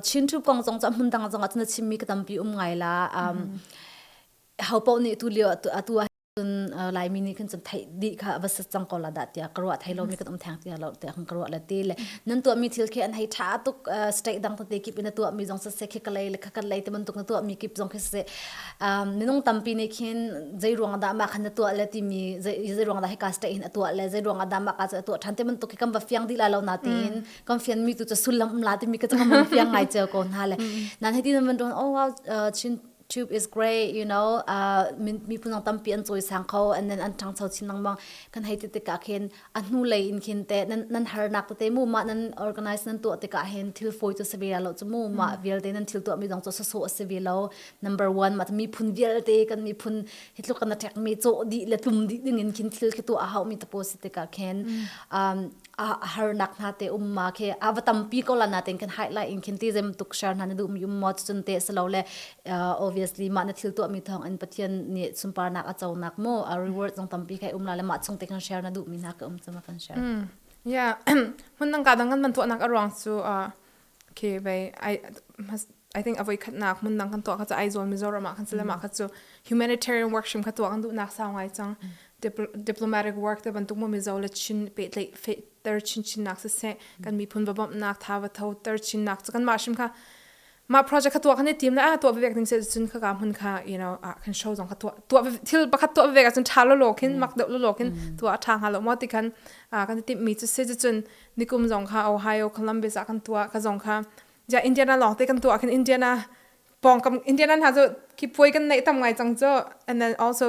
Chinthu kong zong cu a hmun dang zong ah cun a chimmi ka tampi um ngai la. Hopoh nih tu lio atu ahcun Laimi nih khin cun theih dih kha va sat cang ko la dah tiah ka ruah thai lomi kan um theng tiah lo tiah kan ka ruah la ti le nan tuahmi thil khi an hei tha tuk state dang tete kip in a tuahmi zong sase khi kalei le khakalei te bantuk na tuahmi kip zong khi sase minung tampi nih khin zei ruang dah mah khan na tuah le timi zei zei ruang dah hika state hin a tuah le zei ruang ah dah mah ka cu a tuah ṭhan ti bantuk hi kan va fiang dih la lo na tiin kan fian mi tu cu sullam la timi ka cu kan van fiang ngai cio ko hna le nan heti nan van rung oh wow chin tube is great you know uh min mi punang tampi an choi sang kho and then an ṭang cho chin nang mang kan hei ti tikah khin a hnulei in khin te nan nan harnak tete mu ma nan organize nan tuah tikah hin thil fawi cu se ve lo chu mu ma vialte nan thil tuah mi zong cu soso a si ve lo number 1 ma miphun vialte kan miphun hi tluk na tek mi chaw di le tlum di ding in khin thil khi tu a hau mi tapo si tikah khin um a harnak hna te um ma khe a va tampi ko la na ten kan highlight in khin ti zem tuk share hna na du mi um mo chun te se lo le obviously mah na thil tuahmi thawngin Pathian nih sunparnak a conak mu a reward zong tampi kai um la le mah chung te kan share na duhmi hna ka um cuma kan share mm yeah mun nang ka dang kan man tuahnak a ruang cu okay bei i I think avoi khatnak mun nang kan tuah ka ai zon Mizoram kan sele ma ka chu humanitarian work shim ka tuwa kan du nak sa ngai chang diplomatic work te bantuk mo mizo le chin pe tle ter chin chin nak se se kan mi phun babam nak tha va tho ter chin nak kan ma shim ka mah project kha tuah kan i tim le a tuah vevek ding se cun ka ka hmun kha you know ah kan show zong ka tuah tuah thil pakhat tuah vevek ahcun tha lo lo kin mak deuh lo lo kin tuah a tha hnga lo mo ti kan kan i timh mi cu se cun nikum zong kha Ohio Columbus ah kan tuah ka zong kha ja Indiana lawng te kan tuah kan Indiana pong kam Indiana hna cu ki puai kan nei tam ngai cang cho and then also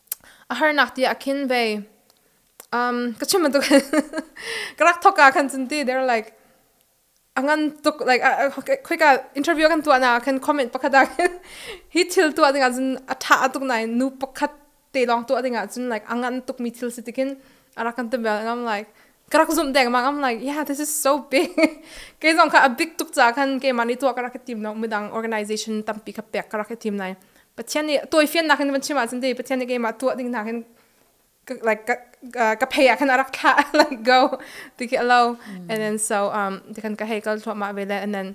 A harnak ti ah khin vei um ka chim bantuk ka rak thok ah khan cun ti they're like a ngan tuk like khoika interview kan tuahnak ah khan comment pakhat ah khin hi thil tuah ding ah cun a tha tuk nain nu pakhat te lawng tuah ding ah cun like a ngan tuk mi thil si ti khin a rak kan ti bel and I'm like ka rak zumh dengmang I'm like yeah this is so big kei zong kha a big tuk caah khan keimah nih tuah ka rak i tim lo midang organization tampi ka pek ka rak i tim lai Pathian nih tawifian nakin van chim ahcun dei Pathian nih keimah tuah ding nakin like ka, uh, ka pay ah khan arak thla like go ti khi alo and then so um ti khan ka heikal thluama vele and then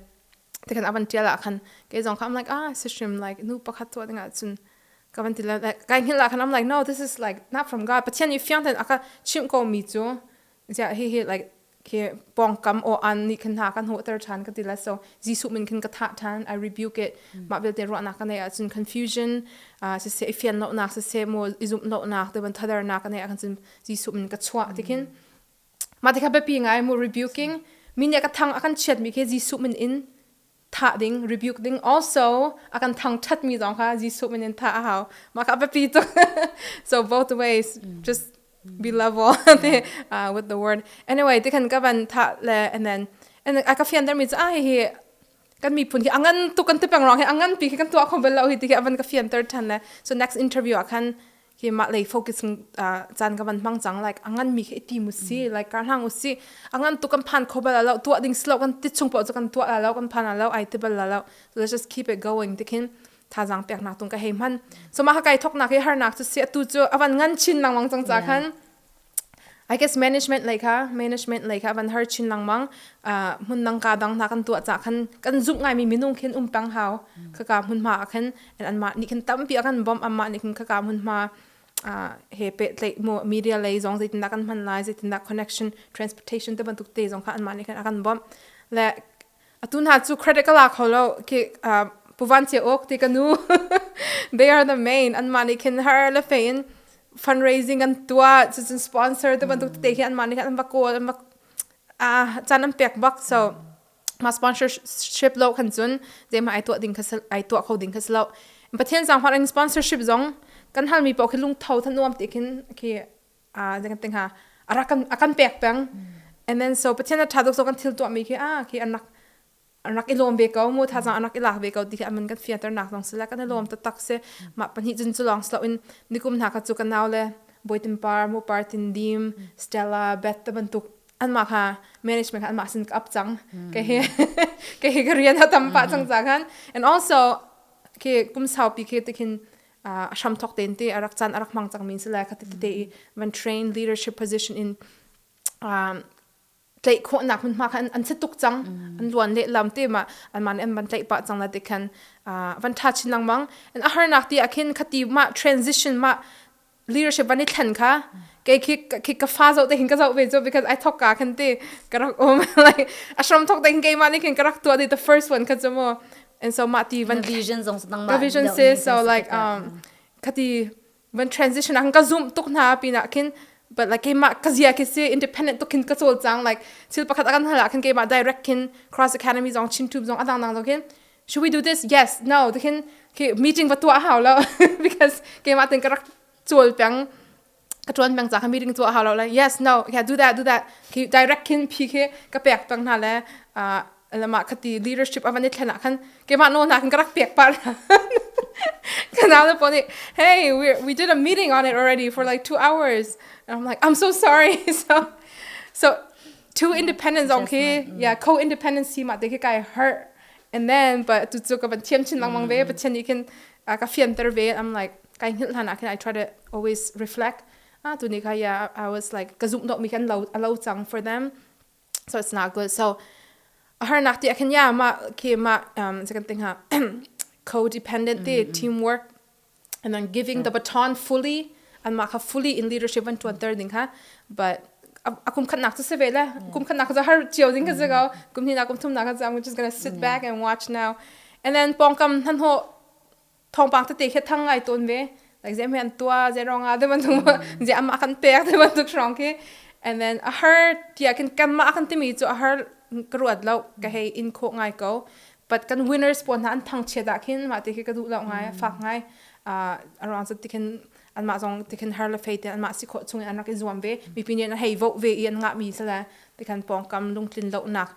ti khan avan tial ah khan ke zong kha I'm like ah si hrim like nu pakhat tuah ding ah cun ka van ti la like kai hngil ah khan I'm like no this is like not from God Pathian i fiang ten aka chim ko mi cu ja hi hi like ke pongkam o an ni khan ha kan ho ter than ka ti la so jesu min khan ka tha than i rebuke it ma bil te ro na ka ne a cun confusion uh, se se fian lo na se se mo izum lo na te ban thadar na ka ne a cun jesu min ka chwa tikin ma te ka be pi ngai mu rebuking min ya ka thang akan chiat mi ke jesu min in thah ding rebuke ding also a kan thangthat mi zong kha Jesuh min in thah a hau mah kha a biapi tuk so both ways just be level uh, with the word anyway ti khan ka van tha le and then and a ka fian der mi cha hi kan mi phun hi angan tu kan ti peng rong hi angan pi khi kan tua khom bel lo hi ti khi avan ka fian ter than le so next interview a khan khi mah lei focus caan ka van hmang cang like angan mi khi i tim usi like kar hlang usi angan tu kan phan khobal alo tua ding slo kan ti chung po kan tua alo kan phan alo ai tebal alo let's just keep it going tikhin thazang pek na tung ka hei man so ma ha kai thok na ke har nak chu se tu chu avan ngan chin nang wang chang cha khan I guess management lei kha management lei kha van har chin langmang hmun nang ka dang hna kan tua cha khan kan zuk ngai mi minung khin um pang hau khaka hmun hma khan and an ma ni khan tampi akan bom amma ni khin khaka hmun hma he pe tlei mo media lei zong zeitinda kan hman lai zeitinda connection transportation te bantuk te zong kha an ma ni khan akan bom le atu hna cu credit ka la kho lo ki uh, puvan che ok ti ka nu they are the main an mah nih khin har le fe in fundraising an tua chu cun sponsor te bantuk te hi an mah nih khan an va kawl an va a chan an pek bak so ma sponsorship lo khan cun je ma ai tua ding khasal ai tua kho ding khaslo pathian sang hwan sponsorship zong kan hal mi pau khi lung tho than nuam ti khin ki a ding ting ha ara kan akan pek peng and then so pathian a tha duk so kan thil tuah mi khi a khi anak anak i lawm ve ko mu tha zang anak i lak ve ko ti khi aman kan fiater nak dong sila kan i lawm ta tak se ma pani jin chu long slo in nikum na ka chu kan naw le boitim par mu par tin dim stella beth ta bantuk anma kha management kha anma sin ka up chang ke he ke he ka rian ha tam pa chang cha khan and also ke kum sau pi ke tikhin uh, hramthok ten te arak chan arak mang chang min sila kha te i van train leadership position in um, tlei kho nak mun ma khan an se tuk chang an luan le lam te ma an man an ban tlei pa chang la te khan van tha chin lang mang an a har nak ti akhin khati ma transition ma leadership ani thlan kha ke khi khi ka fa zo te hin ka zo ve jo because i thok ka khan te karak om like ashram thok te hin ke ma ni khin karak to the first one kha chamo and so mah ti van revision zong nangmah revision se so like um khati van transition ang ka zoom tuk na pina khin but like keimah ka zia khi si independent tuk khin ka chol chang like thil pakhat akan hala khin keimah direct khin cross academy zong chin tube zong adang nang zo khin should we do this yes no to khin ki meeting va tua hau lo because keimah tin ka rak chol pang ka tuan meng ca kha meeting cu a hau lo le yes no yeah do that do that khi direct khin phi khi ka pek tang hna le lama khati leadership avan i thlen ah khan keimah no na kan ka rak pek pa la kanal le poni hey we we did a meeting on it already for like 2 hours and I'm like I'm so sorry so so two independents on khi yeah co-independent si ma te khi kai hurt and then but tu chu ka van thiam chin lang mang ve pathian ni khin a ka fianter ve I'm like kai hngilh hlan ah khin I try to always reflect ah tu ni kha yeah I was like ka zumh dawh mi khan lo a lo cang for them so it's not good so a har nak ti khin ya ma ke ma um second thing ha co-dependent ti teamwork and then giving the baton fully anmah kha fully in leadership an ṭuanter ding kha but a kum khatnak cu si ve le kum khatnak cu har cio ding ka si ko kum hnih kum thumnak ka I'm just gonna sit back and watch now and then pongkam nan ho thongpang te te khe thang ngai ton ve like zem han tua ze rong a de ban tu ze am akan pek de ban tu shrong ki and then a har tia kin kanma akan timi chu a har ka ruat lo ka hei in kho ngai ko But kan winners pawl hna an thangchiat ah khin mah ti khi ka duh lo ngai mm. fak ngai uh, around so tikhin anmah zong tikhin har le fei te anmah si kho chung an rak i zuam ve mi pi nih hei vote ve i an ngah mi sala tikhan pawngkam lungtlin lo nak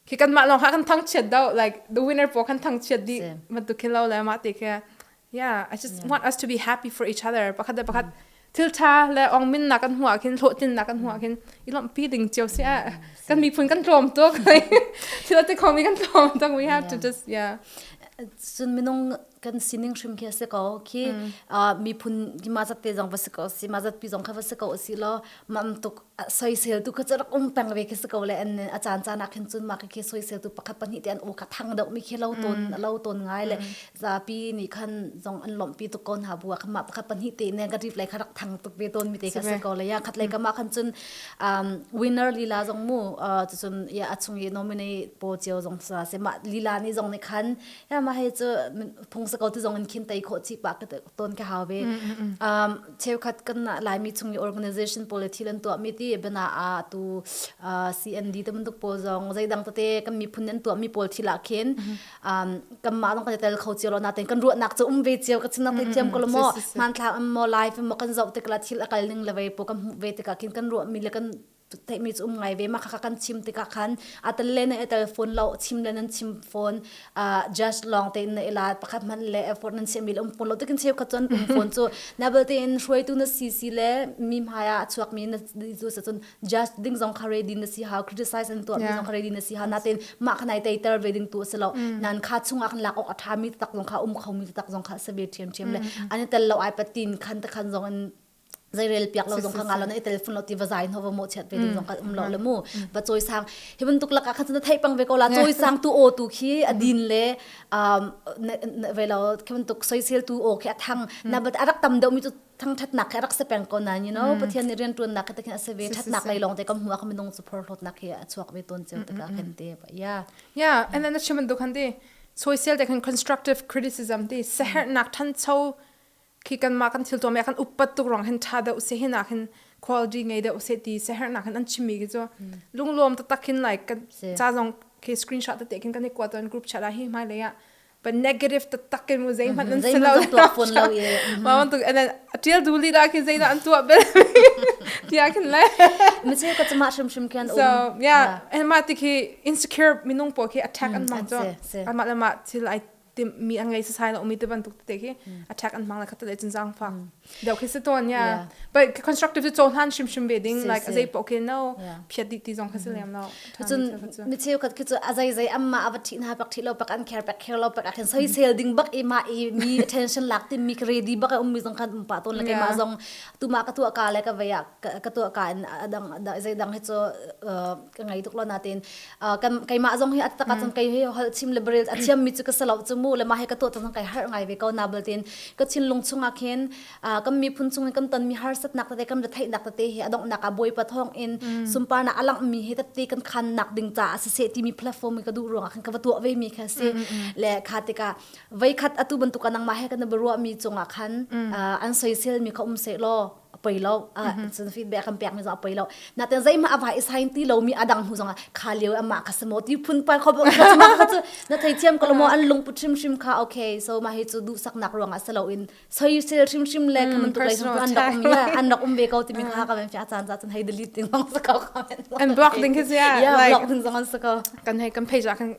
khi kan mah long ha kan thang chiat do like the winner po kan thang chiat di ma tu khi lo le ma te ke Yeah, I just mm. want us to be happy for each other. Pakhat le pakhat mm. thiltha le ong min nak kan hua khin hlawhtin nak kan hua khin i lom pi ding chiu si a mm, kan mi phun kan tlom to kai thil te khomi kan tlom to we have to just yeah sun minung kan sining hrim khi se ko khi mi phun ki ma zat te jong va se ko si ma zat pi jong kha va se ko si lo mam tuk soisel tu kha cu rak um peng ve khi si ko le an a caan caan ah khin cun mah khi soisel tu pakhat pahnih te an u ka thang deuh mi khi lo ton lo ton ngai le zapi nih khan zong an lomh pi tuk ko hna bua kha mah pakhat pahnih te ne ka rip lai kha rak thang tuk ve ton mi te khi si ko le ya khat lai kama khan cun winner lila zong mu tu cun ya a chung i nominate po cheu zong sa se ma lila ni zong ni khan ya ma he cu phung sa ko tu zong in khin tai kho chi pa ka ton ka hawe cheukhat kan laimi chung i organization policy lan tuah mi ti bana a tu CND te mun pawl zong zeidang tete kan miphun nan tuah mi pawl thi la khin kan ma dong kan tel kho cio lo na ten kan ruah nak chu um ve cio ka chin nak te tiam ko lo mo man thla am mo live mo kan zo te kala thil akal ning le ve po kan ve te ka khin kan ruah mi le kan teimi cu um ngai ve ma kha kan chim tikah khan atal le na atal phone lo chim le nan chim phone just long te na ila pakhat man le effort nan sem um phone lo tekin cheu kha chon phone chu na belte in hruaitu na si si le mi hmaya chuak mi na zu sa chun just ding zong kha ready na si ha criticize an to mi zong kha ready na si ha na ten ma khanai tai ter ve ding tu se lo nan kha chung ak lak ok atha mi tak zong kha um kho mi tak zong kha se be thiam thiam le an tal lo ai patin khan ta khan zong zei rel piak lo zong kha ngalo na i telefon lo ti va zai no va mo chet pe ding zong kan um lo le mu ba choi sang hi ban tuk laka khan na thei pang ve ko la choi sang tu o tu khi adin le ve lo khi ban tuk soi sel tu o khi athang na bat arak tam deu mi chu thang that nak arak se peng ko na you know pathian ni rian tuan nak ka takin ase ve that nak lai long te kam huwa kam nong support lot nak hi achuak ve ton cheu ta kan te ba ya yeah and then chiman dukhan di social te kan constructive criticism ti seher nak than chau khi kanmah kan thiltuam ya kan uppat tuk rang hin tha deuh se hin ah hin quality ngei deuh se ti se her nak hin an chimi ki chu lunglom ta takin like kan cha zong khi screenshot ta te kin kan i kuat ton group chat a hi mai le ya but negative ta takin mu zei man an selo pon lo ye ma wan tu and then tiel du li ra ki zei da an tu be tia kin le mi che ka chama shum shum kan so yeah and ma ti ki insecure minung po ki attack an ma cho an ma la ma till i mi an ngei sasai na umi te bantuk te khi mm. attack an hmang na khat le chin zang fa mm. deu khi se ton ya but constructive to cho han shim shim ve ding like azai po ke no phiat di ti zong kha se lem lo chun mi cheu khat khi chu azai zai amma ava thi na pak thi lo pak an care pak care lo pak khin soi sel ding bak ima i mi attention lak ti mi ready bak um mi zong khan um pa ton la ke ma zong tu ma ka tu ka le ka vaya ka tu ka adang zai dang hi chu ka ngai tuk lo natin kan keimah zong hi atak cun kai hi hol chim le bril athiam mi chu ka salo chu mu le ma he ka to tang kai har ngai ve ko na bul tin ka chin lung chunga khin kam mi phun chung kam ton mi har sat nak te kam thai nak te hi adong nak a boi pa thong in sumpar na alang mi he tapte kan khan nak ding ta asa se ti mi platform ka du ruang khan ka va tuwa ve mi kha si le kha te ka vai khat atu ban tu kanang ma he kan barwa mi chunga khan an soisel mi kha um se lo a poi lo cun feedback kan pekmi zong a poi lo natin zeihmah a vai sign ti lomi adang hnu zong ah kha lio amah kha simo ti phun par kho cu na thei thiam ko mo an lungput hrim hrim kha okay so ma hi cu duhsaknak ruangah selo in soisel hrim hrim le kaman tu lai an rak um ya an rak um ve ko ti mi kha ka ben fia chan chan hai delete ding long sa ko comment and block ding khi yeah like block ding zong an sa ko kan hai kan page kan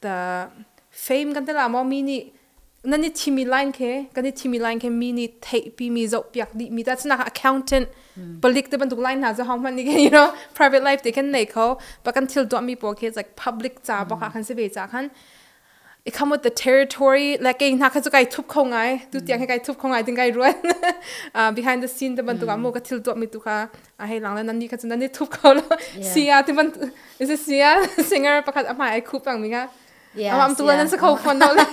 ta fame kan tel ah maw mi nih nan i thimi line khe kan i thimi line khe mi nih theihpi mi zoh piak dih mi ta chnak accountant palik te bantuk line hna zu hong hman ni you know private life te kan nei kho pa kan thil tuah mi po khe like public ca bak ah khan se ve ca khan i come with the territory like kei hna kha chu kai thup kho ngai tu tiang he kai thup kho ngai ding kai ruan uh, behind the scene te bantuk ah mo ka thil tuah mi tu kha a hei lang le nan nih kha cun nan i thup ko lo sia ti ban is it sia singer pakhat a hmai ai khup pang minga ama am tu nan se kho phon no le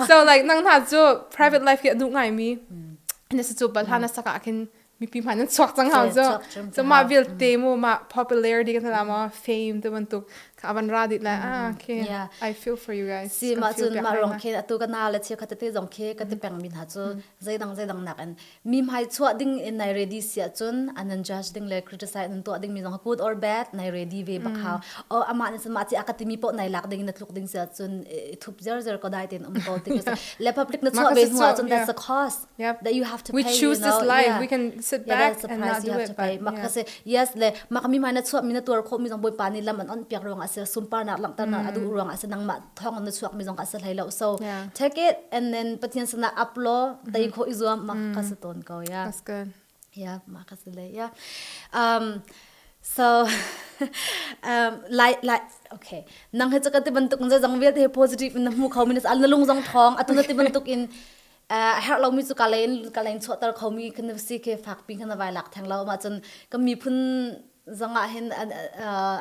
so like nang hna cu private life hi a du ngai mi ne se chu bala na saka khin mipi ma nan chuak chang hau zo so ma bil te mu ma popularity kan la ma fame te ban tuk ka aban ra dit la ah okay i feel for you guys si ma chun ma rong khe atu ka na la che kha te zong khe ka te peng min ha chu zai dang zai dang nak an mi hmai chuah ding in nai ready sia cun an nan judge ding le criticize nan tuah ding mi zong good or bad nai ready ve bakhao o ama ne sama ti akati mi po nai lak ding na tluk ding sia cun thup zer zer ko dai ten um ko ti le public na chuah ve hnuah cun that's the cost that you have to pay we choose this life we can sit back and not do it but makase yes le makami ma na chuah mi na tuar kho mi zong boi pa ni lam an on piak ruang ase sumpar na langtar na adu ruang ase nang ma thong na chuak mi zong ka sa hlei lo so take it and then pathian sana up law tai mm-hmm. kho i zuam ma ka sa ton ko ya that's good yeah ma ka sa le yeah um so um like like okay nang he chaka ti bantuk je zong vial te positive in na mu kho minas al na lung zong thong atun ti bantuk in a herh lomi cu ka len ka len chuahter khomi kan si ke fakpi kan vai lak theng lo ma cun kan miphun zong ah hin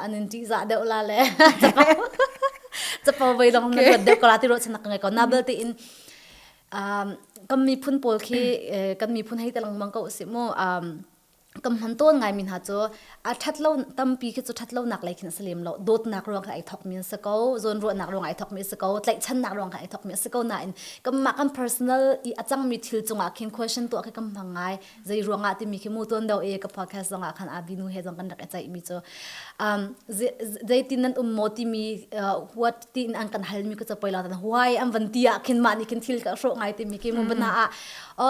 an in ṭih zah deuh la le capo vei long na ruat deuh kala ti ro chanak ngai ko na bel te in kan miphun pawl khi kan miphun hei te langmang ko si mu kam hman ton ngai mi hna cu a that lo tampi khi cu that lonak lei khin salem lo dawtnak ruang kha ai thok mi se ko zon ruahnak ruang ai thok mi se ko tlaihchannak ruang kha ai thok mi se ko na in kam ma kan personal i a cang mi thil cungah khin question to khi kam hang ngai zai ruangah ti mi khi mu ton do e ka podcast zongah khan abinu he zong kan rak chai mi chu um zai tin nan um mo ti mi what tin an kan hal mi ku cha poila tan why am van ti a khin ma ni kin thil ka ro ngai ti mi ki mu bana a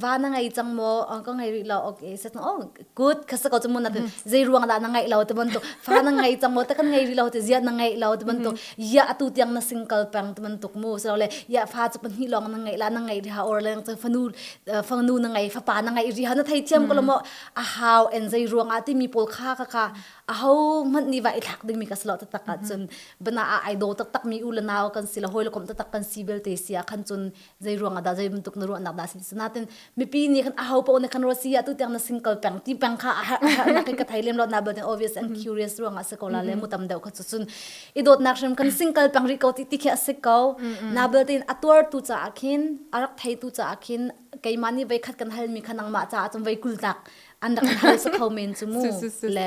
va na ngei cang maw ka ngei rih lo okay sa oh good ka sa ko chu mun na zei ruang da na ngei lo te ban to fa na ngei cang maw ta kan ngei rih lo te zia na ngei lo te ban to ya atu tiang na single pang te ban tuk mu so le ya fa chu pan hi long na ngei la na ngei rih ha or leng chu fanu fangnu na ngei fa pa na ngei rih ha na thei thiam ko lo mo a how en zei ruang a ti mi pol kha ka ka a ho man ni va i thak ding mi ka slo ta tak chun bana a ai do tak tak mi u la naw kan si la hoi lo kom ta tak kan si bel te sia khan chun zei ruang ah dah zei bantuk na ruahnak dah si natin mipi nih kan aho paoh na kan ro si ah tu tiang na sin kal peng ti peng kha na ka thai lem lo na but obvious and curious ruang ah se ko la le mu tam deuh kha chu sun i dot nak hrem kan sing kal peng ri ko ti ti khe se ko na bel tin atuar tu cha akhin arak thai tu cha akhin keima ni vai khat kan hal mi kha nangma cha chung vai kul tak an rak hal sa kho men chu mu le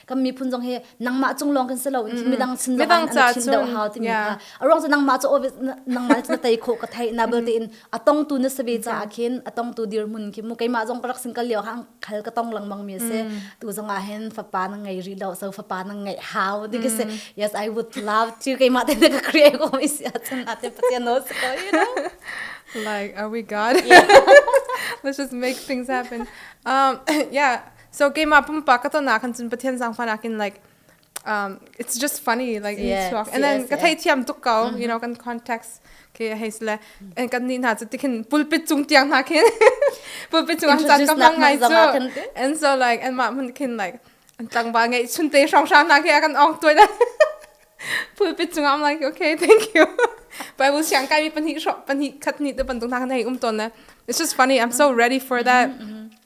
kan miphun zong hi nangmah cung lawng kan si lo in midang sin lawng in an chin deuh hau timi kha a ruang cu nangmah cu nangmah na tei khawh ka thei na belte in a tong tu na sabe ca ah khin a tong tu dirhmun khi mu keimah zong ka rak sin kal lio hang khal ka tong langmang mi se tu zong ah hin fapa na ngei rih lo so fapa na ngeih hau di ka se yes i would love to keimah te na ka create ko mi si a chan na te pathian no se ko you know like are we god let's just make things happen um yeah So keimah pumpak ka ton ahkhan cun Pathian zangfah nakin like um, it's just funny like yes, yes, and then yes, ka thei thiam tuk ko mm-hmm. you know kan context ke hei sle en kan ni na chu tikhin pulpit chung tiang na khin pulpit chung an chat ka hong ngai chu and so like and ma mun khin like an tlangba ngai chun te shrang shrang na ke kan ong tuai da pulpit chung I'm like okay thank you but I will siang kai mi panhi sho panhi khat ni te pandung na kan hei um ton na it's just funny I'm so ready for that mm-hmm, mm-hmm.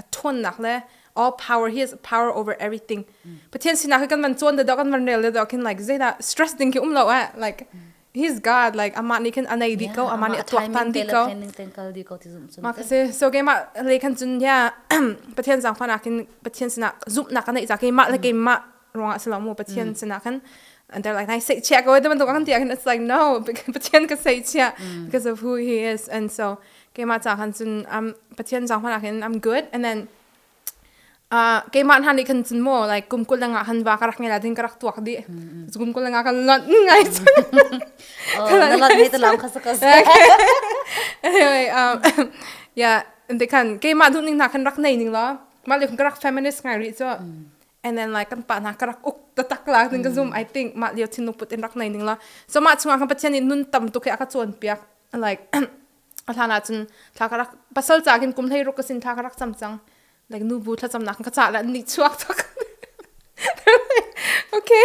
a ṭhawnnak le all power he is power over everything pathian sinak hi kan van cawn da kan van rel da khin like zedah stress ding khi um lo eh like he's god like amah nih khin anei di ko amah nih a tuak tan di ko ma ka se so ke ma le khan chun ya pathian zang fa nak kin pathian sina zumnak ka nei za ke ma le ke ma ruangah si lo mu pathian mm. sinah khan and they're like, I say chia ko the bantuk an ti and it's like no Pathian ka say chia mm. because of who he is and so keima cha khan cun um Pathian jang hmana khin I'm good and then uh keima han ni khan cun mo like kum kul langa han wa ka rak ngela din ka rak tuak di kum kul langa kan lot ngai oh na lot ni to lam khas ka anyway um yeah and they can keima du ning na khan rak nei ning lo ma le ka rak feminist ngai ri cho And then like kan pa hna ka rak uk tatak la ning ka zoom I think mah lio thin put in rak nei ning la so mah chungah kan pathian nih nun tam tuk he aka chuan piak like a hlan ah cun thla ka rak pasal ca kin kum hlei ruk ka sin thla ka rak cham cang like nu bu thla cham nak ka ca la ni chuak tok okay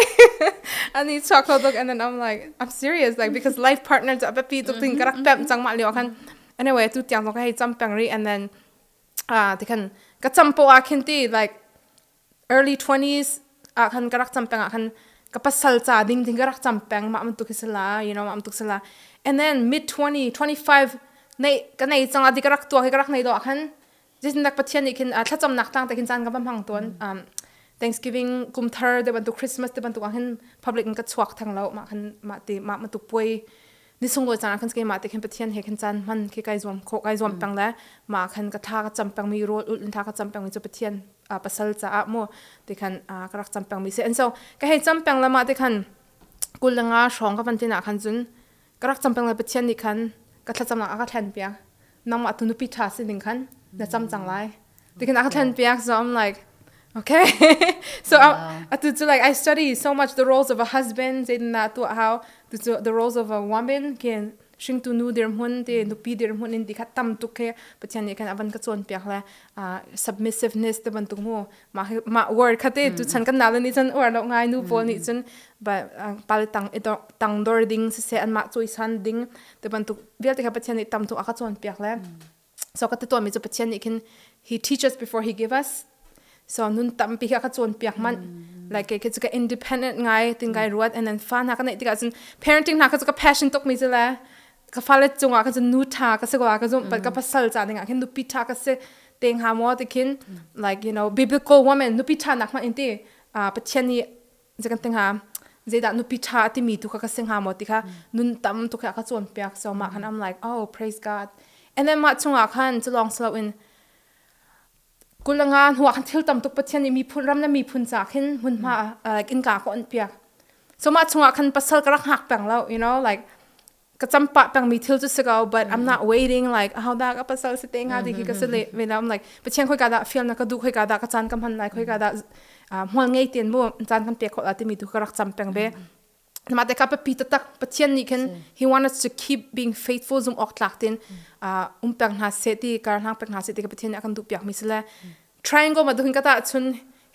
ani chuak lo tok and then I'm like I'm serious like because life partner ja pe tuk ting ka rak pem chang ma leo khan anyway tu tiang lo ka hei cham peng ri and then ah ti khan ka campo ah khin ti like early 20s ah khan ka rak cam peng ah khan ka pasal ca ding ding ka rak cam peng mah bantuk hi sala you know mah bantuk sala and then mid 20 25 nei ka nei changa di ka rak tua hi ka rak nei do ah khan jisindak pathian ni khin thlacam nak tang ta khin chan ka ba mang ton um thanksgiving kumthar de bantu christmas de bantu ah khin public in ka chuak thang lo ma khan ma ti ma ma tu poi ni sunglawi cang kan ke ma te khin pathian he khan chan man khi kai zuam kho kai zuam peng le ma khan ka tha ka cham peng mi rol ul tha ka cham peng mi chu pathian pasal cha a mu te khan ka rak cham peng mi se and so ka hei cham peng le ma te khan kul nga shong ka van tina khan zun ka rak cham peng le pathian ni khan ka thlacam na ka thlen pia nangmah tu nupi ṭha si ning khan na cam cang lai. Because I can turn back so I'm like okay so wow. atu cu like I study so much the roles of a husband say na tu how tu the roles of a woman can hring tu nu dir mun te nupi dir mun in ti khat tam tuk he pathian ni kan avan ka chon piak le uh, submissiveness te ban tuk mu mah mah word kha te tu mm. chan kan na ni chan war lo ngai nu paul ni mm. cun ba pal tang i tang dor ding se se an ma choi san ding te bantuk vialte kha pathian ni tam tu aka chuan piak le mm. so ka teto mi chu pathian ni khin he teaches before he give us so nun tam pi ka chuan piak man like ke ke ka independent ngai tin gai ruat and then fa na ka nei tika cun parenting na ka ka passion tok mi jela ka fale chunga ka nu tha ka se ko ka zum pat ka pasal cha ding a khin nu pi tha ka se te nga mo te khin like you know biblical women nupi tha nak ma in ti pathian ni je kan tenga zeda nupi tha ti mi tu ka ka singa mo ti kha nun tam tu ka ka chon piak so ma khan i'm like oh praise god and then ma chunga khan chu long slow in kulanga huwa khan thil tam tuk pathian ni mi phun ram na mi phun cha khin mun ma like in ka ko an piak so ma chunga khan pasal ka rak hak pang lo you know like ka champah pengmi thil cu si ko but I'm not waiting like how da ka pasal si te nga ti hi ka si le ve la like pathian khoi ka da feel na ka du khoi ka da ka chan ka man lai khoi ka da hmol ngei tin mu chan kan pe khol ati mi tu ka rak cham peng be na ma te ka pa pi ta tak pathian ni khin he want us to keep being faithful zum ok tlak tin um peng hna se ti kar hlang peng hna se ti ka pathian akan du piak mi sile triangle ma duhin ka tahchun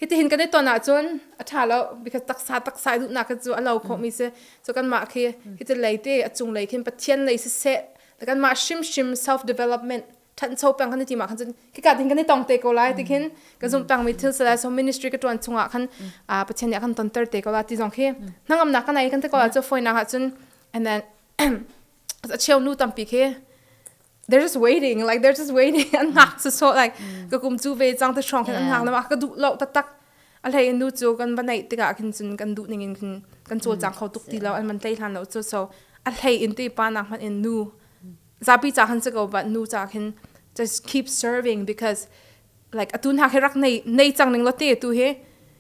hitihin kan i ton ahcun a tha lo because taksa taksa i duhnak cu a lo kho mi si so kanmah khi hiti lei te a cung lei khin pathian lei si se da kanmah hrimhrim self development thancho pang kan ti ma khan cun hika din kan i tong te ko lai ti khin ka zum pang mi thil sala so ministry ka tuan chungah khan pathian nih a kan ton ter te ko la ti zong khi hnangam na kan ai kan te ko la chu foi na ha cun and then a cheu nu tampi khi they're just waiting like they're just waiting an ngak su so like ka kum chu ve chang te strong khin an ngak na ka du lo ta tak a hlei nu chu kan banai tika khin chun kan du ning in khin kan cho chang kho tuk ti lo an man tlai hlan lo chu so a hlei in ti pa nak man in nu zapi cha khan se ko ba nu cha khin just keep serving because like atu hna khi rak nei nei cang ning law te tu hi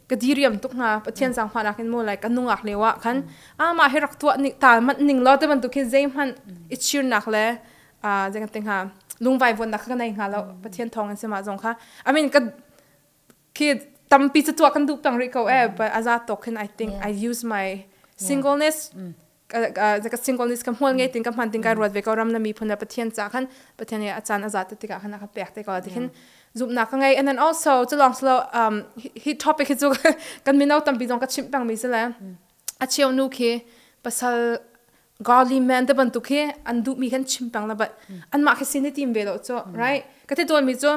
ka diriam tuk hna pathian sang hma nak in mo like anungak le wa khan ama hi rak tua ni tal mat ning law te ban tu khin zei hman i cheer nak le a jeng te ha lungvai von nak ka nei ha lo pathian thong an sema zong kha i mean ka khi tampi chu tua kan du pang ri ko e but aza to khin i think i use my singleness ka singleness ka hmual ngei tin ka hman tin ka ruat ve ko ram na mi phun pathian cha khan pathian ya achan aza te tika khana ka pek te ko tikhin zup na ka ngai and then also to long slow um hi topic hi chu kan mino tampi zong ka chim pang mi sele a chiu nu khi pasal godly man te ban tu khi an du mi khan chim pang la but an ma khi sin ni team ve lo cho right ka the dol mi chu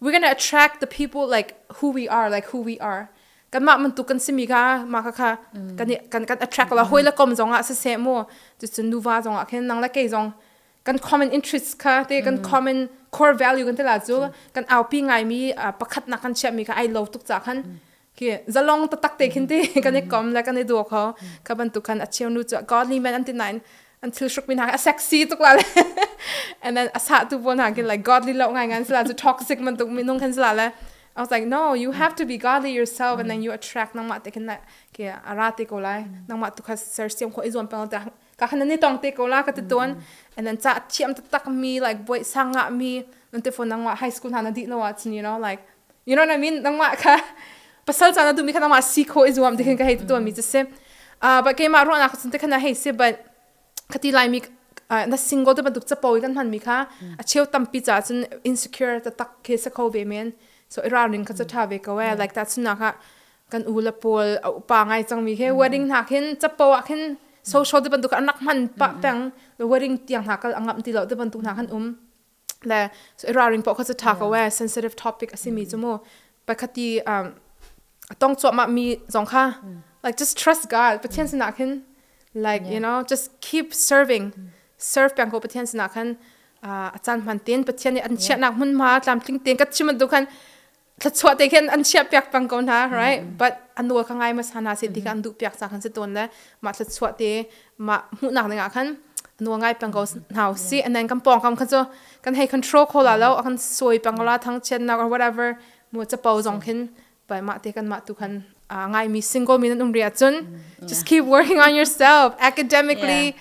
we're going to attract the people like who we are like who we are kanmah mun tu kan simi ka ma ka kha kan kan kan attract la hoi la kom zonga se se mo tu chu nuva zonga khen nang la ke zong kan common interests kha te kan common core value kan tela chu kan aupi ngai mi pakhat na kan chia mi ka ai lo tuk cha khan Khi zalong taktak te khin ti kan i kom le kan i do kho kha bantuk khan a cheu nu cu godly men an ti nain an thil hruk min a sexy tuk la le and then a sah tu pawl hna kin like godly lo ngai ngan sila cu toxic man tuk minung khan sila le I was like no you have to be godly yourself and then you attract nangmah te khin like ke ara te ko lai nangmah tu kha ser siam kho i zuam pang te ka han ni tong te ko la ka ti ton and then cha thiam tak mi like boy sang nga mi non te phone nangma high school na na di no wa chin you know like you know what I mean nangma ka pasal cha na du mi kha nangma si kho izuam de khin ka hei to mi just say uh but keima ro na ka sun te khana hei se but khati lai mi na single te banduk chapawi kan man mi kha a cheu tampi cha chun insecure ta tak khe sa kho ve men so ira ring kha cha tha ve ko e like that sunna kha kan u le pawl a upa ngai cangmi he wedding hna khin capo ah khin social te bantuk an rak hman pa peng wedding tiang hna kal angam ti lo te bantuk hna kan um le so eraring po kha cu tha ko e sensitive topic asimi chu mu pakhati um tong chuahma mi zong kha like just trust God Pathian sinah khin like you know just keep serving serve peng ko Pathian sinah khan a chan hman tin Pathian nih an chiahnak hmunhma tlamtling ten ka chim tu khan thluachuah te khin an chiah piak pang ko hna right mm. but an nawl ka ngai ma sa hna si ti ka an duh piak sa khan si ton le ma thluachuah te ma hmuhnak ding ah khan nuwa ngai pang ko hna si and then kan pong kam kha chu kan hei control ko la lo kan soi pang la thang chen na or whatever mu cha po zong khin bai ma te kan ma tu khan ngai mi single mi nan um ria chun just keep working on yourself academically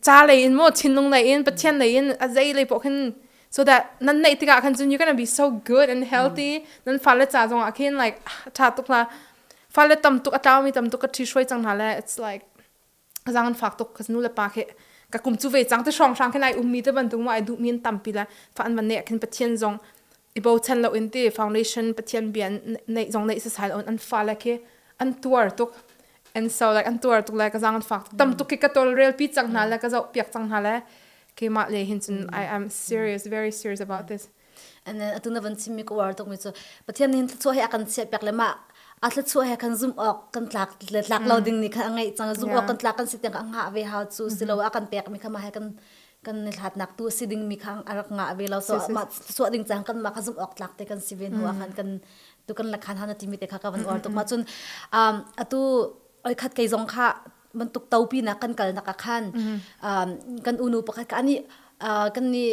ca lei in maw thinlung lei in pathian lei in a zei lei poh khin so that nan neih tikah khan cun you're gonna be so good and healthy nan fale ca zongah khin like a ṭha tuk hla fale tam tuk a tlaumi tam tuk ka ṭhi hruai cang hna le it's like zang an fak tuk ka nu le pa khi ka kum chu ve cang te hrawng hrang khin ai ummi te bantuk ma ai duhmi an tampi le fa an van ne khin pathian zong i bochan loin ti foundation pathian bia neih zong neih sasai on an fa le khi an tuar tuk and so like an tuar tuk like ka zang an fak tam tuk ki ka tol rel pi chang hna le ka zo piak chang hna le ke ma le hin cun i am serious very serious about this and then atuna van chimmi ko war tok mi chu pathian hin thlachuah he akan chiat pek le ma a thlachuah he kan zum ok kan tlak le tlak lo ding ni kha ngai chang zum ok kan tlak kan si tiang ka nga ve ha chu silo a kan pek mi kha ma he kan kan hlatnak tu si ding mi kha a rak ngah ve lo so mah suah ding cang kan mah kha zumh awk tlak te kan si ve hnu ah khan kan tu kan la khan hana timi te kha ka van or tuk ma cun atu oi khat kei zong kha bantuk topi na kan kal nak khan kan unu pakhat ka ani kan ni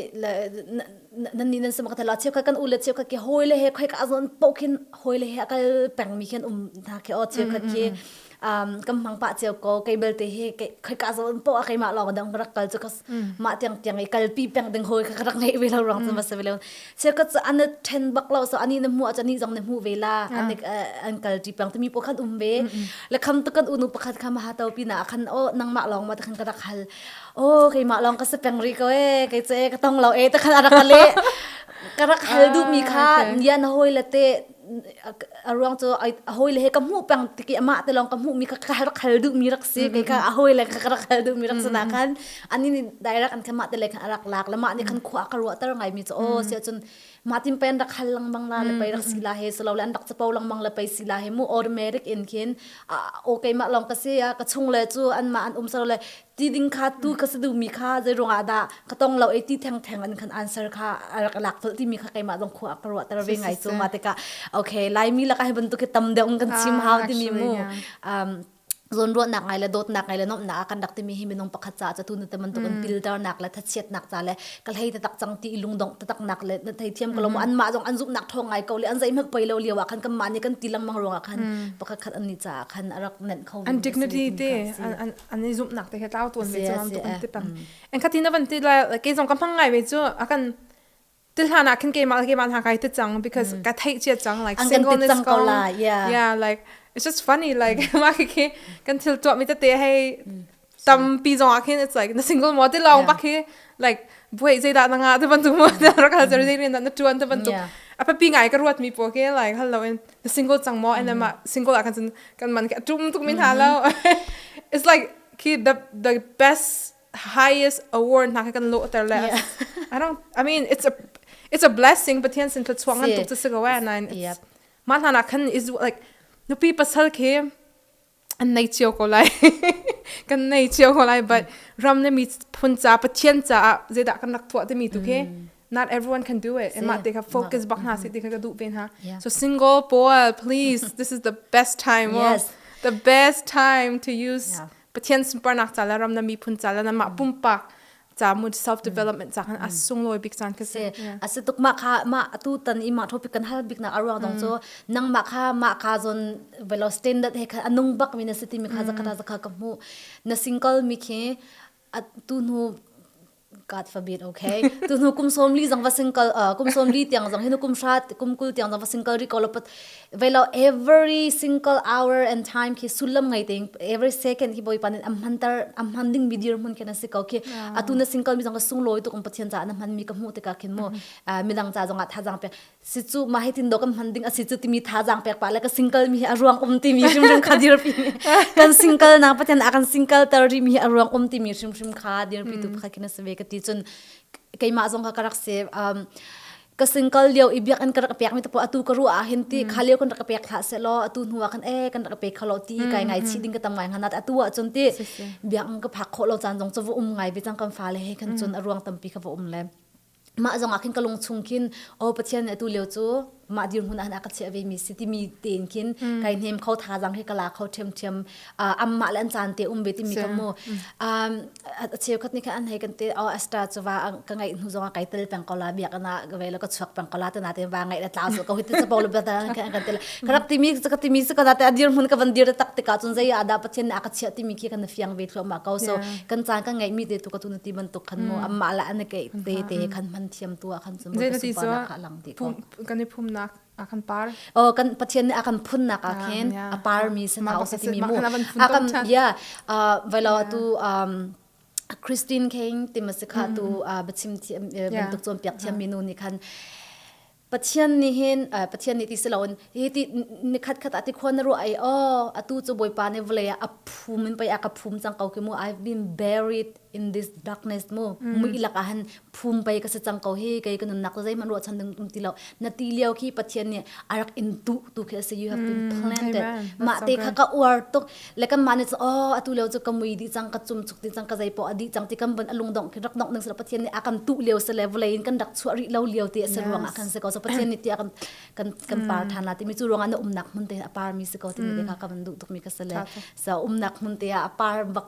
nan ni nan sama ka tala cheu ka kan u le cheu ka ke hoi le he khoi ka azon pokin hoi le he kal peng mi khen um na ke o cheu ka ke um, kan mang pa cheu ko kei belte hi kai ka zo po a keimah lawng dang rak kal chu ka ma tiang tiang i kal pi peng ding hoi ka rak ngei ve lo rang chu ma se ve lo se ka chu an then bak lo so ani na mu a chani jong na mu ve la an an kal ti pang timi po khan um ve le kham to kan unu pakhat kham ha to pi na khan o nang ma long ma ta khan ka rak hal o keimah long ka se peng ri ko e kai che ka tong lo e ta khan arak le ka rak hal du mi kha nian hoi la te a ruang cu a hawi le he ka hmuh peng tiki amah te lawng ka hmuh mi ka ka khal duh mi rak si kei ka a hawi le ka rak khal duh mi rak si na khan ani nih direct an khan mah te le khan rak lak le mah nih khan khua ka ruah ter ngai mi cu o sia cun mah tin pen rak khal langmang la le pei rak si la he selo le an rak chapo langmang le pei si la he mu automatic in khin a o ke mah long ka si a ka chung le cu an mah an um selo le ti ding kha tu ka sa duhmi kha zei ruangah dah ka tong lo e ti theng theng in khan answer kha a lak colh timi kha keimah zong khua ka ruahter ve ngai cu ma tikah okay laimi laka hi bantuk hi tam deuh in kan chim hau timi mu zawnruahnak ngai le dawtnak ngai le nomhnak ah kan rak timi hi minung pakhat ca ca tun te bantuk in pilternak le thachiatnak ca le ka hlei tatak cang ti lungdong tataknak le thei thiam ko lo an mah zong an zumhnak thong ngai ko le an zei hmak poi lo lio ah khan kan mah ni kan ti langmang ruang ah khan pakhat khat an ni ca khan a rak nenh kho an dignity te an i zumhnak te he tlau tuan ve cang tu an ti tam en khatin avan ti la ke zong ka mang ngai ve chu akan til hlan ah khin ke ma ke ma na kai te chang because ka thei chia chang like single is gone yeah yeah like it's just funny like ma khi kan thil to mi te te hei tam pi zong akhin it's like na single mo te long bak hi like buai zai da nanga te ban tu mo da ra ka jari na tuan te ban tu apa pi ngai ka ruat mi po ke like hello in single cang maw and then mah single ah khan cun kan man khi a tum tuk mi hna lo it's like khi the the best highest award hna khi kan lo ter le I don't I mean it's a it's a blessing pathian sin thluachuang an tuk chu si ko and I ma hna na khan is like nupi pasal khi an nei cio ko lai kan nei cio ko lai but ram le mi phun ca pathian caah zeidah kan rak tuah timi tu khi not everyone can do it emma te kha focus bak hna si ti kha ka duh ve hna so singapore please this is the best time the best time to use pathian sunparnak ca le ram le mi phun ca le mah pumpak camut self development ca kan as sunglawi bik caan ka si ase tuk ma kha ma atu tan i ma topic kan hal bik na aruang dong cho nang ma kha ma ka zon velo standard he kha anung bak mi na si ti mi kha zakata zakha ka mu na single mi khi tu nu God forbid okay tu nu kum som li zang va single kum som li tiang zang hinu kum sha kum kul tiang zang va single ri ko lopat velo every single hour and time khi sullam ngai ting every second hi boipan in am hman tar am hman ding mi dir mun ken asi ko khi atu na single mi zong ka sung loi tu kan pathian ca na hman mi ka mu te ka khin mu midang ca zong a tha jang pe si chu ma hitin do kan hman ding asi chu timi tha jang pek pa la ka single mi hi a ruang um ti mi hrim hrim kha dir pi kan single na pathian a kan single tar ri mi hi a ruang um ti mi hrim hrim kha dir pi tu kha khin se ve ka ti chun keima zong ka karak se um ka single lio i biak an ka rak pek mi tapo atu ka ruah ah hin ti kha lio kan rak pek hlah se law atu hnu ah kan e kan rak pek kho lo ti kai ngai chi ding ka tam ngai hna na atu ah cun ti biak an ka phak kho lo caan zong chu va um ngai bi cang kan fa le he kan cun a ruang tampi kha va um le mah zong ah khin ka lung chung khin o pathian ne tu leo chu mah dir hun an aka che ve mi si ti mi ten khin kai nem kho tha jang he kala kho them them amma le an caan te um ve timi ka mu a cheu khat ni khan an hei kan te o asta chuwa ka ngai hnu zong kai tel peng ko la biak na ga ve lo ka chuak peng ko la te na te wa ngai la tlau so ka huit sa polo ba ta kan kan tel ka rap timi ka ka timi ka da te adir mun ka van dir tak te ka chun zai ada pathin na ka chia timi khi kan fiang ve thlo ma ko so kan caan ka ngai mi te tu ka tu na ti ban tuk khan mu amma la an ke te te khan man thiam tu khan chum zai na ti so ka lang ti ko kan phum nak a kan par oh kan pathian nih a kan phunnak ah khin a parmi se thau se timi mu a kan ya velo tu um christine king tima se kha tu bachim thi bantuk chon piak thiam mi nu ni khan pathian ni hin pathian ni ti siloin hi ti ni khat khat ati khon ru ai o atu chu boipa ne vle a phum in pai a ka phum chang kau ki mu i've been buried in this darkness mu mm. mui lak ahan phung pai ka se chang ko hi kai ka nunnak zei man ro chan ding tum ti lo na ti liao ki pathian ni arak in tu tu ke se you have been mm, planted ma te kha ka uar tuk le kan mane o atu leo chu kamui di chang ka chum chuk ti chang ka zai po adi chang ti kam ban alung dong ki rak nok ning sra pathian ni akan tu liao se level in kan dak chua ri lo liao ti se ruang akan se ko so pathian ni ti akan kan kan par mm. than la ti mi chu ruanga na umnak mun te apar mi se ko ti ni ka kan du tuk mi ka se le sa umnak mun te apar bak